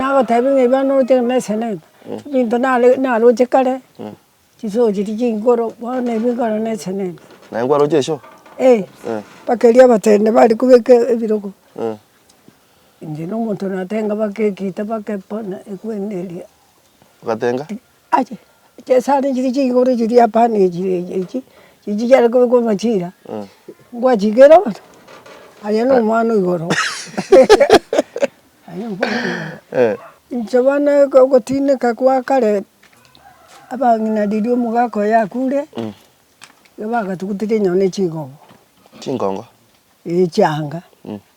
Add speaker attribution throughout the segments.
Speaker 1: Nagotebia ng'a ebibe
Speaker 2: noroche na eseneta, ebinto naroche kare, chisoo chiria chinguru, bono ebi nkoro na eseneta. Naye nkwaroche eshoo?
Speaker 3: Ee, mpaka
Speaker 2: eria abatende bare kobeka ebirogo, inche na omonto natenga mpaka egiita mpaka bono ekwende eria. Ogatenga?
Speaker 3: Ache
Speaker 2: chesare chiri chigoro chiri apana echi echi chichiare kobekwa amachira, ngwachikera bono, aye na omwana o igoro aye na omwana o igoro. Inche bono ogotineka kwa kare, abang'ina riria omogaka oye akure, nigo bagatugutire enyoni ne chigogo. Chingongo? Eeh chianga.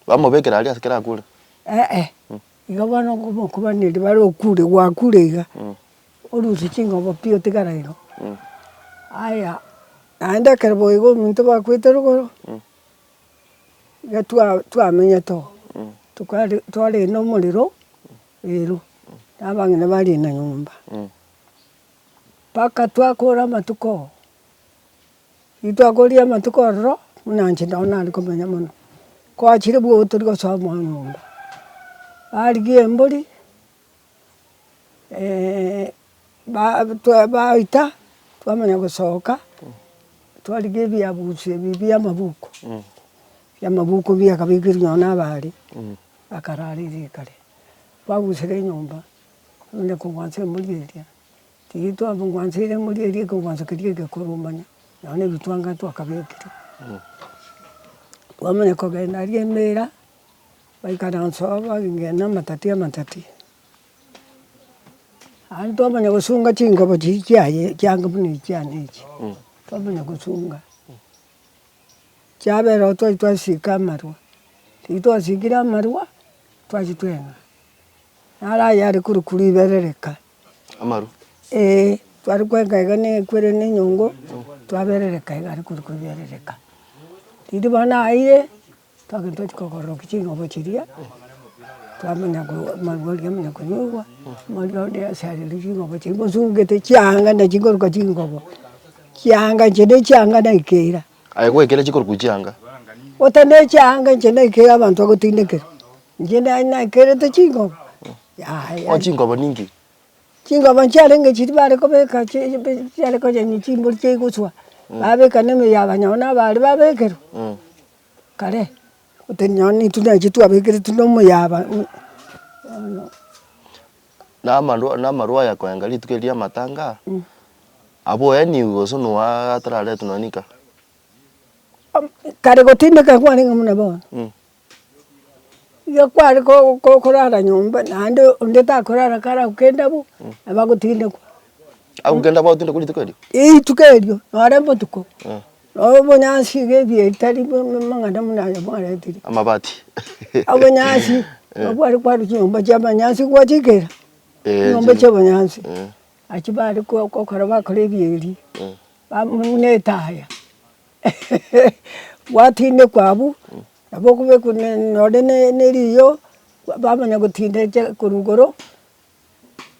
Speaker 2: Bamobekera
Speaker 3: aria ase kere akure? Eeh.
Speaker 2: Igo bono okobaneria bare okure gwakure iga, orusie chingobo pi otigare igo. Aya naende ekero boigo omonto bakwete rogoro, iga twa twamenyete oo, tokare twarende omorero rero na abang'ina barenda nyomba. Mpaka twakora amatuko. Ritwakoria amatuko ororo, buna inche nao nare komenya mono, kwachire bwogo tori gosoa omwana ombe. Barigia embori, ba- twa baita, twamanya gosoka, twarigia ebiabusi ebi bia amabuku, bia amabuku biakabekire nonye na abare, bakarara eria ekare. Twagusire enyomba, omonto akobwate embori eria. Titwabongwanseire ng'a oria aria ekegwanso keria egekoro manya nao nebitwanga twakabekire. Twamanya kogenda aria emera, baikare nse oo bagigena na amatati amatati. Aye twamanya gosunga chingabo chiri chiaye chiange buna echiane echi, twamanya gosunga. Chiabera oo twari twasika amarwa, riria twasikire amarwa, twachitwenga. Naro ayare korokwa riberereka. amaru?
Speaker 3: Ee,
Speaker 2: tware kwenka iga na ekwerende enyongo, twaberereka iga are kori koberereka. Riria bono aeire, twagenda tochia kogororokia ching'obo chiria, twamanya ko amarwa aria amanya konyorwa, amarwa onde ase aria riria ching'obo chiria ngosugete chianga na chinkoruka chingobo, chianga inche ne chianga naikera. Aye goikera chikoruka
Speaker 3: chianga? Ota ne
Speaker 2: chianga inche naikera abanto bagotindekera, inche naye naikerete ching'obo. Yaya. O
Speaker 3: chinkobo ninki? Chinkobo
Speaker 2: nchiarenge chiria bare kobeka chi chiare konyenya chimbori chiaigoswa, babeka na emeyia yaba nyago nabo aria babekerwa, kare otari nonye na intwe nainche twabekeretwe na omoyaba buna bono.
Speaker 3: Na amarwa na amarwa aya koenga rituko eri riamatanga, aboeniwe gose noa atararetwe nonye nika?
Speaker 2: Kare gotindeka kwarenge buna bono. Iga kware korara nyomba naende onde takorara kare agwo kende abwo nabo agotindekwa. Agwo kende abwo
Speaker 3: agotindekwa rituko erio? Eeh rituko erio
Speaker 2: nore botuko noo obonyansi iga ebiya ebitari amang'ana buna aya mwaretire. Amabati.
Speaker 3: Obonyansi
Speaker 2: nabo bware korwa chinyomba chia obonyansi gwachikera chinyomba chia obonyansi nachi bare kokora bakora ebiya ebi buna etaya. Gwatindekwa abwo, nabo okobekwa nonye ne eriiyo, bamanya gotindekia korwa igoro,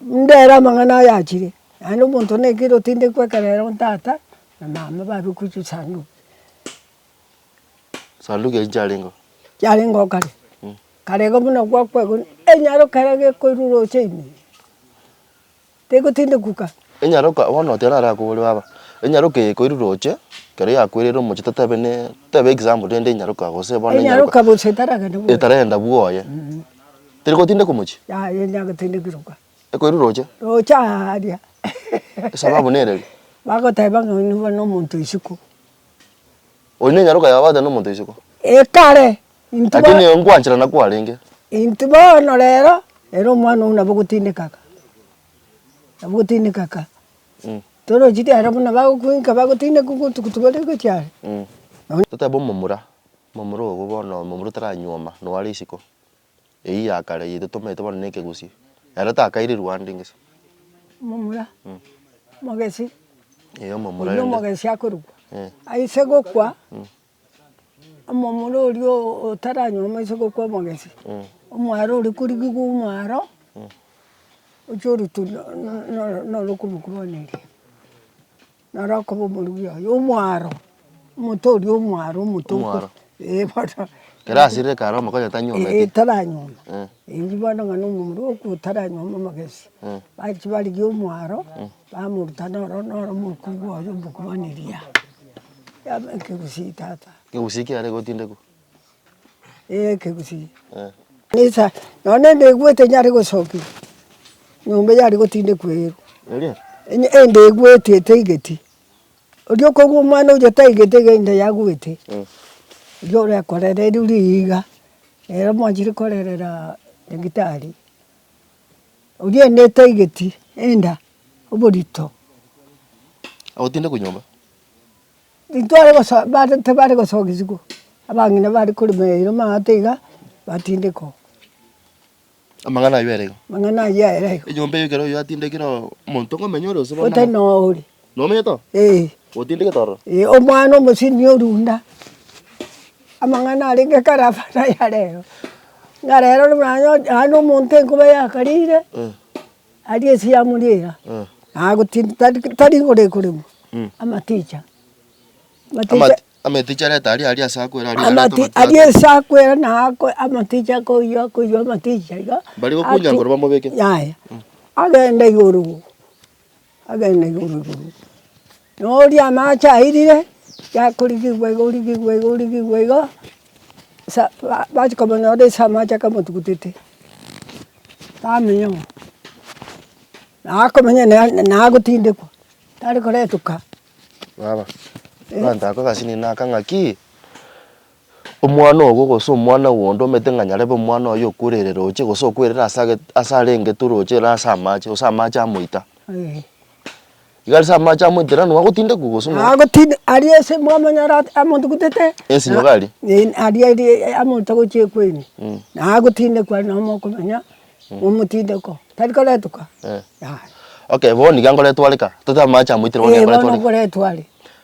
Speaker 2: ndere amang'ana aya achire, naende omonto nekire otindekwa ekero ere ontata na mama babekwa chisanduku.
Speaker 3: Sanduku echio chiarenge oo? Chiarenge oo kare,
Speaker 2: kare iga buna gwakwa igo, enyaroka iga gekoirurwa oche ime. tegotindigwka. Enyaroka, bono
Speaker 3: otiara are akobore baba, enyaroka eye koirure oche, ekero yakwereire omochie totebe ne, totebe example rende enyaroka gose bono enyaroka. Enyaroka gose etaragenda
Speaker 2: bwoye. Etaragenda bwoye.
Speaker 3: Teri gotindeka omochie? Yaya eria gotindegigwa.
Speaker 2: Ekoirure oche?
Speaker 3: Roche aaria.
Speaker 2: Esababu
Speaker 3: nere eri. Bagoteba ng'a
Speaker 2: oino bono omonto isiko.
Speaker 3: Oyo nenyaroka yao abatane nomonto isiko. Ekare,
Speaker 2: intwe Lakini bono,
Speaker 3: nengwanchera nakwo arenge. intwe bono
Speaker 2: rero, ere omwana oyio nabo ogotindeka ka, nabo ogotindeka ka. Mm. Torochi riarero buna bagokuinka bagotindeka obotuko tibori gochia are. Mm. Totebe
Speaker 3: omomura, omomura obo bono omomura otaranyuoma, nore isiko. Eyio ya kare eyio totomerete bono nekegusii. Ero takaire rwande
Speaker 2: ngese.
Speaker 3: Omomura,
Speaker 2: omogesi.
Speaker 3: Ee omomura rende. Oyio omogesi akorokwa.
Speaker 2: Ee. Aise gokwa, omomura oria otaranyuoma aise gokwa omogesi. Ee. Omwaro oria korigigwa omwaro, ochia orutwa norokogwa kwane eria. Naro akoba omorugi oye omwaro, omonto oria omwaro, omonto okwe Omwaro. eh
Speaker 3: bono.
Speaker 2: Ekero asirire
Speaker 3: ekare omokonye tanyometi. Eh taranyoma,
Speaker 2: Eh. erio bono ng'a na omomura okwo otaranyoma amagesi. Eh. Bachia barigia omwaro, bamoruta noro noro omokubwa oye omokubaniria, yaba ekegusii tata. Egusii kiarenge
Speaker 3: gotindekwa. Ekegusii,
Speaker 2: kanisa, nonya nende egwe tenyare gosokia nyomba eye aria gotindekwa eyerwa, onye ende egweti etaigeti, oria okobua omwana oyio taigeti iga ende yagweti, igo orekorera erio riiga, ere omwanchire korerera nyagitari, oria ende etaigeti enda, oborito.
Speaker 3: Agotindekwa nyomba.
Speaker 2: Titware goso bare tibare gosogiswa, abang'ina bare korema eira amaato iga, batindeka oo.
Speaker 3: Amang'ana aywo ere iga. Amang'ana aywo ere iga.
Speaker 2: Enyomba eyio ekero oyio atindekire
Speaker 3: oo, omonto ng'omenye ore ase bono. Otari noyo ore.
Speaker 2: Nomenyete oo? Eeh.
Speaker 3: Otindegete ororo? Eeh, omwana omosibia
Speaker 2: orunda, amang'ana arenge kare abana yarero, ng'a rero manya onye naende omonto enkoba yakarire, Aria Yesu yamoriera, nagotinda tari tari igoro ekoremwa, amaticha, amaticha
Speaker 3: Amaticha areta aria aria ase akwera aria areta amati amaticha aria
Speaker 2: ase akwera nako amaticha akoywa akoywa amaticha iga Mbarigokunyankorwa bamobeke.
Speaker 3: yaya,
Speaker 2: agenda igoro. Agenda igoro igoro, na oria amache airire, yakorigigwa iga origigwa iga origigwa iga, sa ba bachia komonyora ase amache akamotugutete, bamenya ng'a nakomenya na nagotindekwa, tari koretwa ka. Baba,
Speaker 3: ee. Abanto ako gasi ninde naka ng'aki. Omwana ogo gose omwana onde omete ng'a nyarebe omwana oye okwere ere roche, gose okwere ere ase age ase are engetu roche ere ase amache, gose amache amoita. Eeh. Iga ase amache amoita ranu agotindekwa gose no. Agotinda aria ase
Speaker 2: mwamanya ara amotugutete. Ensinyo iga aria.
Speaker 3: Eeh aria aria
Speaker 2: amoite gochia ekwaini. Na agotindekwa nabo mokomenya omotindeko, tari koretuka.
Speaker 3: Eeh. Yaya. Okay bono iga nkoretwareka, tote amache amoitire bono iga nkoretwareka. Eeh bono nkoretware.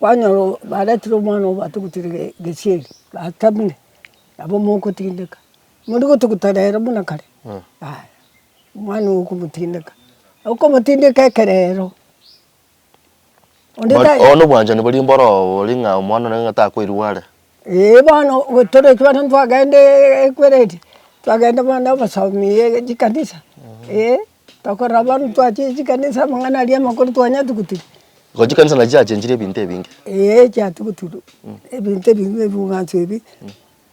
Speaker 2: Kwanyora baretire omwana obo batugutire gesieri, batamire, nabo mogotindeka, mori gotuguta rero buna kare, yaya omwana ogo okomotindeka, okomotindeka ekerero, onde
Speaker 3: ta. Bono obwanchani boria mboro boria ng'a omwana one ng'a takoirigwa are. Eeh bono
Speaker 2: tore ekero twagenda eeh ekweredi, twagenda bono na obosomi chikanisa eeh. Tokorora abarwoti twachire chikanisa amang'ana aria amakoro twanyatugutigwe. Igo chikanisa nachi
Speaker 3: chiachenchire ebinto ebinge. Ee chiatugutigwe,
Speaker 2: ebinto ebi bie ebing'wanso ebi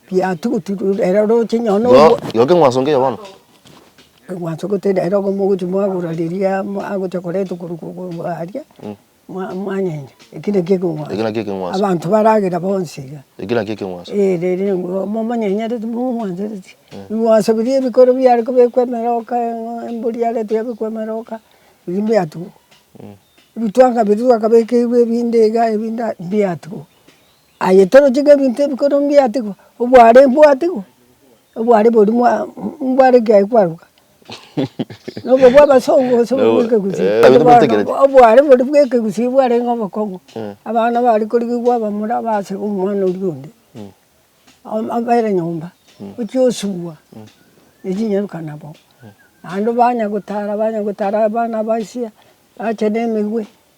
Speaker 2: biatugutigwe ere oroche nonye na Igo, igo ekeng'wanso nkeya bono?
Speaker 3: Ekeng'wanso
Speaker 2: gete nere ogomogochi mwagora riria agocha koretwa korwa aria. Mwanyeire, eki nakio ekeng'wanso. Eki nakio ekeng'wanso. Abanto baragera bonsi iga. Eki nakio
Speaker 3: ekeng'wanso. Ee, riri nguru
Speaker 2: momonyenyoreti momwansereti. Ebing'wanso biria ebikoro biare kobekwa emeroka embori yarentwe yabekwa emeroka, biria mbiatigwa. Ebitwanga biria twakabekeirwe ebinde iga ebinde aa mbiatigwa. Aye toroche ng'a ebinto ebikoro mbiatigwa, obware mbwatigwe, obware bori mbware ekiagera kwaruka. Nobo bw'abasongo gose obo bw'ekegusi? Eh, ebinto bitegereti. Obware bori bw'ekegusi bwarenge obokong'u, abana bare korigigwa abamura base omwana oria onde, am- abere nyomba, ochia osubwa echinyaruka nabo. Naende banya gotara banya gotara abana baisia, bache na emegwe.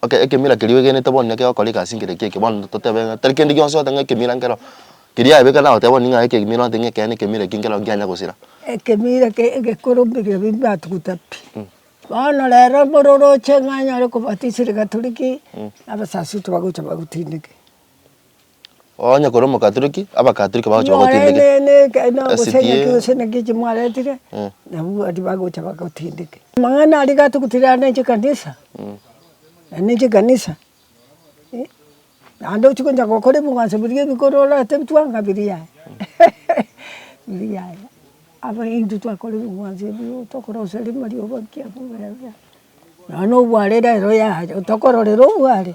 Speaker 2: Okay ekemira
Speaker 3: keria oegenete bono nekio ogokora egasi nkere ekia eke bono totebe ng'a tari kende gionsi oteba ng'a ekemira nkero keria yabeka naye oteba ning'o aye ekemira oteba ng'a ekeene ekemira eki nkero nkianya gosira. Ekemira ke
Speaker 2: egekoro mbiria ebi mbatugute pi. Bono rero bore oroche ng'a anyare kobatisiri Gatoriki, abasacha ocha bagocha bagotindeke.
Speaker 3: Onye kore omokatoliki, abakatoliki bagocha bagotindeke. Nonye ne- ne- eke- na gose SDA.
Speaker 2: ng'aki gose naki echi mwaretire, Mm. nabwo abwo bagocha bagotindeke. Amang'ana aria gatugutire aya ne chikanisa, aya ne chikanisa, eh, naende ochia gocha gokora ebing'wanso biria ebikoro orate bituaa ng'a biri yaya, biri yaya. Aba intwe twakora ebing'wanso ebio tokoroseria marioba ki abwo buna buna. Nonya obware rero yaya, tokororera obware.